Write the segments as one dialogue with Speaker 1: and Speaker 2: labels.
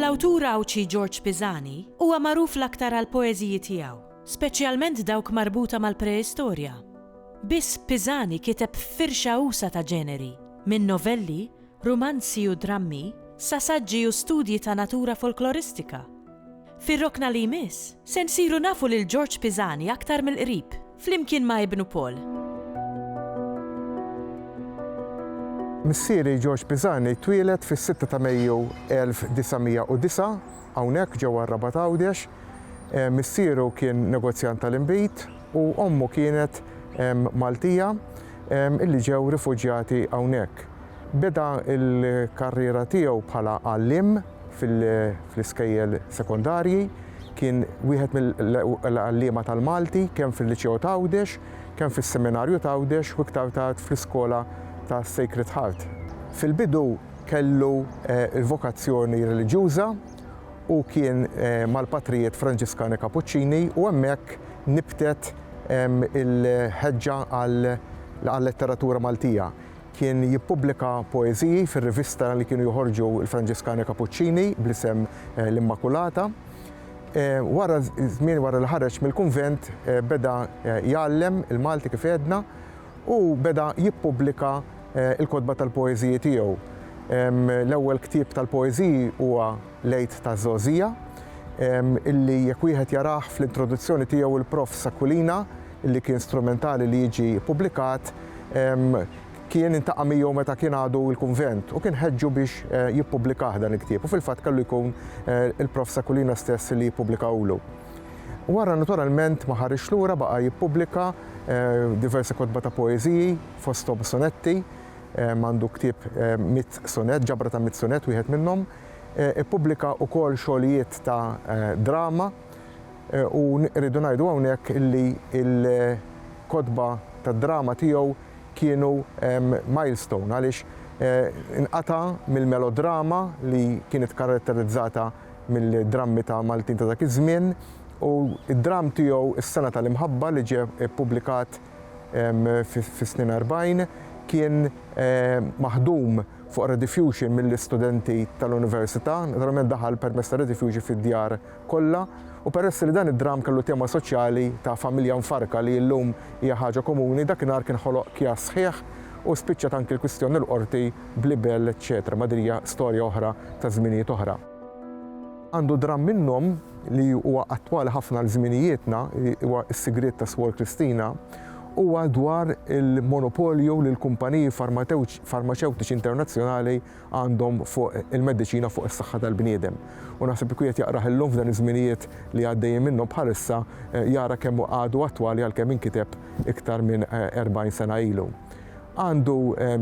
Speaker 1: L-awtur Għawdxi Ġorġ Pisani huwa magħruf l-aktar għall-poeżiji tiegħu, speċjalment dawk marbuta mal-preistorja. Biss Pisani kiteb firxa usa' ta' ġeneri, minn novelli rumanzi u drammi sa saġġi u studji ta' natura folkloristika. Fir-rokna li jmiss, se nsiru nafu lil Ġorġ Pisani aktar mill-qrib, flimkien ma' ibnu Paul.
Speaker 2: Missieri Ġorġ Pisani twieled fis-sitta ta' Mejju 1909 hawnhekk ġewwa r-Rabat Għawdex. Missieru kien negozjant tal-inbid u ommu kienet Maltija illi ġew rifuġjati hawnhekk. Beda l-karriera tiegħu bħala għalliem fl-iskejjel sekondarji, kien wieħed mill-għalliema tal-Malti kemm fil-Liċeo t'Għawdex, kemm fis-Seminarju t'Għawdex u iktar tard fl-Iskola ta' Sacred Heart. Fil-bidu kellu l-vokazzjoni reliġjuża u kien mal-Patrijiet Franġiskani Kapuċċini u hemmhekk nibtet il-ħeġġa għal-letteratura Maltija. Kien jippubblika poeżiji fir-rivista li kienu joħorġu l-Franġiskani Kapuċċini bl-isem L-Immakulata. Wara żmien wara li ħareġ mill-kunvent beda jgħallem il-Malti kif għedna u beda jippubblika l-kotba tal-poeżiji tiegħu. L-ewwel ktieb tal-poeżiji huwa L-Għid taż-Żgħożija, illi jekk wieħed jarah fl-introduzzjoni tiegħu l-Prof. S'Aquilina, li kien strumentali li jiġi ppubblikat kien intaqa' miegħu meta kien għadu l-kunvent u kien ħeġġu biex eh, jippubblikah dan il-ktieb u fil-fatt kellu jkun eh, il-prof Sakulina stess li jippubblikawlu. Wara naturalment ma ħarix lura baqa' jippubblika eh, diversi kotba ta' poeżiji fosthom sonetti, għandu ktieb mit sonet, ġabra ta' mit sonet wieħed minnhom, ippubblika wkoll xogħlijiet ta' drama U rridu ngħidu hawnhekk li l-kotba tad-drama tiegħu kienu milestone għaliex inqata' mill-melodrama li kienet karatterizzata mill-drammi ta' Maltin ta' dak iż-żmien u d-dramm tiegħu Is-Sena tal-Imħabba li ġie ppubblikat fis-snin erbgħin kien maħdum fuq rediffusion mill-istudenti tal-Università, naturalment daħal permezz ta' rediffusion fid-djar kollha, u peress li dan id-dramm kellu tema soċjali ta' familja mfarrka li illum hija ħaġa komuni, dakinhar kien ħoloq kjass sħiħ u spiċċat anki l-kwistjoni l-Qorti bl-ibel eċċetera ma din hija storja oħra ta' żminijiet oħra. Għandu dramm minnhom li huwa attwali ħafna għal żminijietna, huwa Is-Sigriet ta' Swor Kristina, huwa dwar il-monopolju li l-kumpaniji farmaċewtiċi internazzjonali għandhom fuq il-mediċina fuq is-saħħa tal-bniedem. U naħseb li kwiet jaqrah illum f'dan iż-żminijiet li għaddejjin minnhom bħalissa jara kemm hu għadu attwali għalkemm inkiteb iktar minn 40 sena ilu. Għandu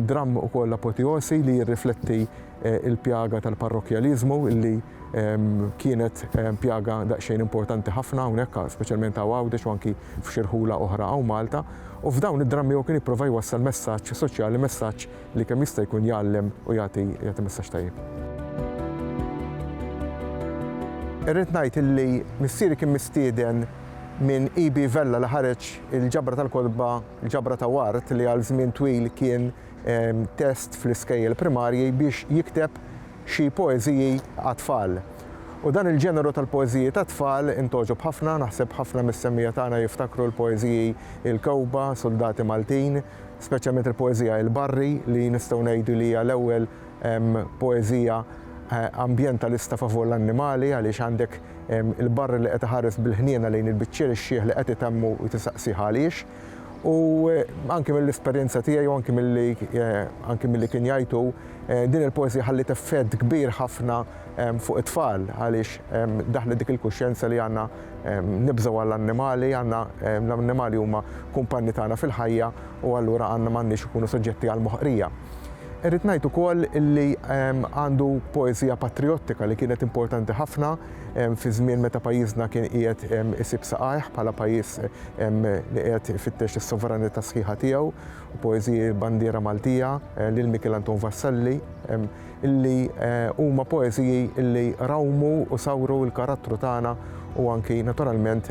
Speaker 2: dramm ukoll apoteosi li jirrifletti il-pjaga tal-parrokjaliżmu li kienet pjaga daqsxejn importanti ħafna hawnhekk speċjalment hawn Għawdex u anki f'xirħula oħra hawn Malta. U f'dawn id-drammi huwa kien jipprova jwassal messaġġ soċjali, messaġġ li kemm jista' jkun jgħallem u jagħti jagħti messaġġ tajjeb. Irrid ngħid illi missieri kien mistieden minn EB Vella li ħareġ il-ġabra tal-kotba, il-ġabra ta' Ward li għal żmien twil kien test fl-iskejjel primarji biex jikteb xi poeżiji għat-tfal. U dan il-ġeneru tal-poeżiji tat-tfal intgħoġob ħafna, naħseb ħafna mis-semmija tagħna jiftakru l-poeżiji Il-Kewkba, Suldati Maltin, speċjalment il-poeżija Il-Barri li nistgħu ngħidu li hija l-ewwel poeżija ambjentalista favur l-annimali għaliex għandek il-barri li qed iħares bil-ħniena lejn il-biċċier ix-xiħ li qed itemmu u tisaqsih għaliex. U anke mill-esperjenza tiegħi u anke milli anke milli kien jgħidu din il-poeżija ħalliet effett kbir ħafna fuq it-tfal għaliex daħlet dik il-kuxjenza li għandna nibżgħu għall-annimali, għandna l-annimali huma kumpanni tagħna fil-ħajja u allura għandna m'għandniex ikunu soġġetti għal moħqrija. Irrid ngħid ukoll li għandu poeżija patrijottika li kienet importanti ħafna fi żmien meta pajjiżna kien qiegħed isib saqajh bħala pajjiż li qiegħed ifittex is-sovranità sħiħa tiegħu, poeżiji bandiera Maltija lil Mikiel Anton Vassalli. illi huma poeżiji illi rawmu u sawru l-karattru tagħna u anki naturalment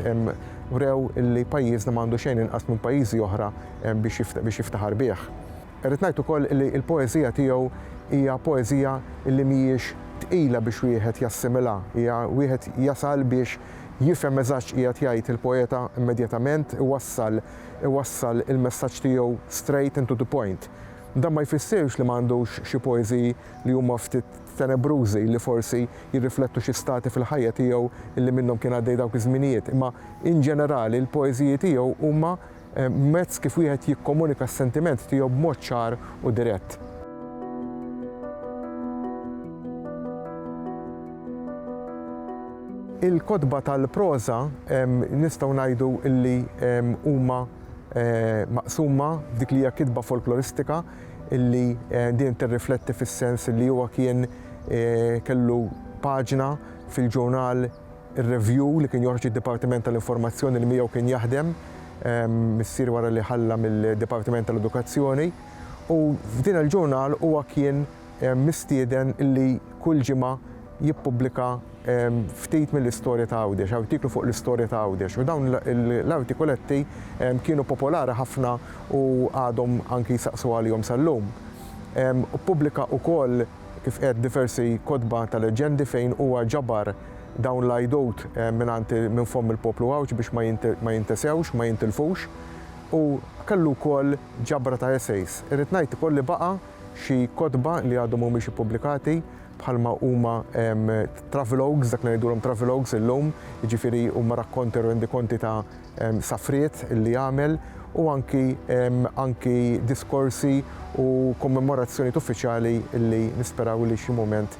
Speaker 2: wrew illi pajjiżna m'għandu xejn inqas minn pajjiżi oħra biex jiftaħar bih. Irrid ngħid ukoll illi l-poeżija tiegħu hija poeżija illi mhijiex tqila biex wieħed jassimilha, hija wieħed jasal biex jifhem eżatt x'qiegħed jgħid il-poeta immedjatament, iwassal iwassal il-messaġġ tiegħu straight and to the point. Dan ma jfissirx li ma għandux xi poeżiji li huma ftit tenebrużi, li forsi jirriflettu xi stati fil-ħajja tiegħu li minnhom kien għaddej dawk iż-żminijiet, imma in ġenerali l-poeżiji tiegħu huma mezz kif wieħed jikkomunika s-sentiment tiegħu b'mod ċar u dirett. Il-kotba tal-proża nistgħu ngħidu li huma eh, maqsuma f'dik li hija kitba folkloristika illi eh, din tirrifletti fis-sens li huwa kien eh, kellu paġna fil-ġurnal ir-review li kien joħroġ id-Dipartiment tal-Informazzjoni li miegħu kien jaħdem missier wara li ħalla mill-Dipartiment tal-Edukazzjoni u f'din il-ġurnal huwa kien mistieden illi kull ġimgħa jippubblika ftit mill-istorja ta' Għawdex, artiklu fuq l-istorja ta' Għawdex. U dawn l-artikuletti kienu popolari ħafna u għadhom anki jsaqsu għalihom sal-lum. Pubblika wkoll kif qed diversi kotba ta' leġġendi fejn huwa ġabar dawn l-għidut mingħand minn fomm il-poplu Għawdx biex ma jintesewx, ma jintilfux. U kellu wkoll ġabra ta' essays. Irrid ngħid ukoll li baqa' xi kotba li għadhom mhumiex ippubblikati bħalma huma travelogues, dak li ngħidulhom travelogues illum, jiġifieri huma rakkonti u rendikonti ta' safriet li għamel u anki anki diskorsi u kommemorazzjonijiet uffiċjali li nisperaw li xi mument